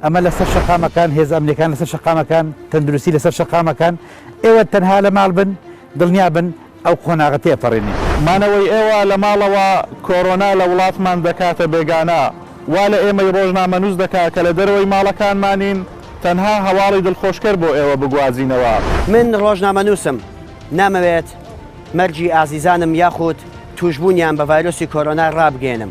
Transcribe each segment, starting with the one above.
ئەمە لەسەر شەقامەکان، هێزە ئەمنیەکان لەسەر شەقامەکان، تەندروستی لەسەر شەقامەکان، ئێوە تەنها لە ماڵ بن، دڵنیا بن ئەو قۆناغە تێپەڕێنین. مانەوەی ئێوە لە ماڵەوە کۆرۆنا لە وڵاتمان دەکاتە بێگانە، وا لە ئێمەی ڕۆژنامەنووس دەکات کە لە دەرەوەی ماڵەکانمانین، تەنها هەواڵی دڵخۆشکەر بۆ ئێوە بگوازینەوە. من ڕۆژنامەنووسم، نامەوێت مەرگی ئازیزانم یاخود تووشبوونیان بە ڤایرۆسی کۆرۆنا ڕابگەیەنم،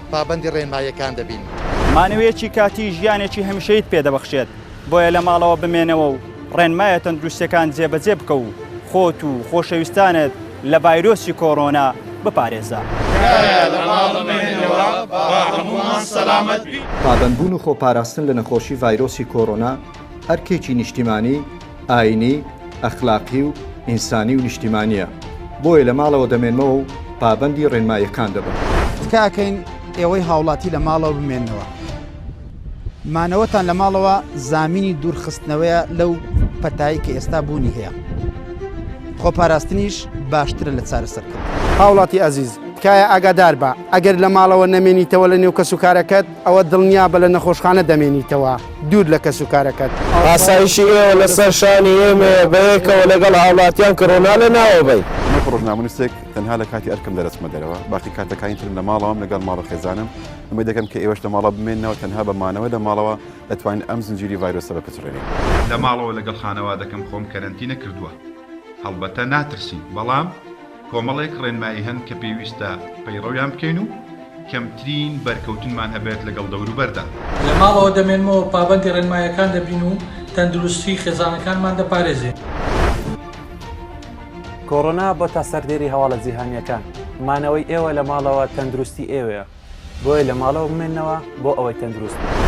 پابەندی ڕێنماییەکان دەبین. مانەوەیەکی کاتی ژیانێکی هەمیشەییت پێ دەبەخشێت، بۆیە لە ماڵەوە بمێنەوە و ڕێنمایە تەندروستییەکان جێبەجێ بکە و خۆت و خۆشەویستانت لە ڤایرۆسی کۆرۆنا بپارێزە. تکایە لە ماڵ بمێنەوە با هەموومان سەلامەت بین. پابەندبوون و خۆپاراستن لە نەخۆشی ڤایرۆسی کۆرۆنا، ئەرکێکی نیشتیمانی، ئایینی، ئەخلاقی و ئینسانی و نیشتیمانییە، بۆیە لە ماڵەوە دەمێنمەوە و پابەندی ڕێنماییەکان دەبم. تکاکەین ئێوەی هاوڵاتی لە ماڵەوە بمێننەوە. مانەوەتان لە ماڵەوە زامینی دوورخستنەوەیە لەو پەتای کە ئێستا بوونی هەیە. خۆپاراستنیش باشترە لە چارەسەرکردن. هاوڵاتی ئازیز، تکایە ئاگاداربە، ئەگەر لە ماڵەوە نەمێنیتەوە لە نێو کەسوکارەکەت، ئەوە دڵنیابە لە نەخۆشخانە دەمێنیتەوە دوور لە کەس و کارەکەت. ئاسایشی ئێوە لەسەر شانی ئێمەیە بەیەکەوە لەگەڵ هاوڵاتیان کڕۆنا لەناوە بەین. من کە ڕۆژنامەنووسێک تەنها لە کاتی ئەرکم دەرەچمە دەرەوە، باقی کاتەکانی ترم لە ماڵەوەم لەگەڵ ماڵ و خێزانم، ئومێد دەکەم کە ئێوەش لە ماڵەوە بمێننەوە، تەنها بە مانەوە لە ماڵەوە دەتوانین ئەم زنجیری ڤایرۆسە بپچڕێنین. لە ماڵەوە لەگەڵ خانەوادەکەم خۆم کەرەنتینە کردووە، هەڵبەتە ناترسین، بەڵام. کۆمەڵێک ڕێنمایی هەن کە پێویستە پەیڕەویان بکەین و کەمترین بەرکەوتنمان هەبێت لەگەڵ دەوروبەردا. لە ماڵەوە دەمێنمەوە، پابەندی ڕێنماییەکان دەبین و تەندروستی خێزانەکانمان دەپارێزین. کۆرۆنا بۆتە سەردێری هەواڵە جیهانییەکان، مانەوەی ئێوە لە ماڵەوە تەندروستی ئێوەیە. بۆیە لە ماڵەوە بمێنەوە بۆ ئەوەی تەندروست بن.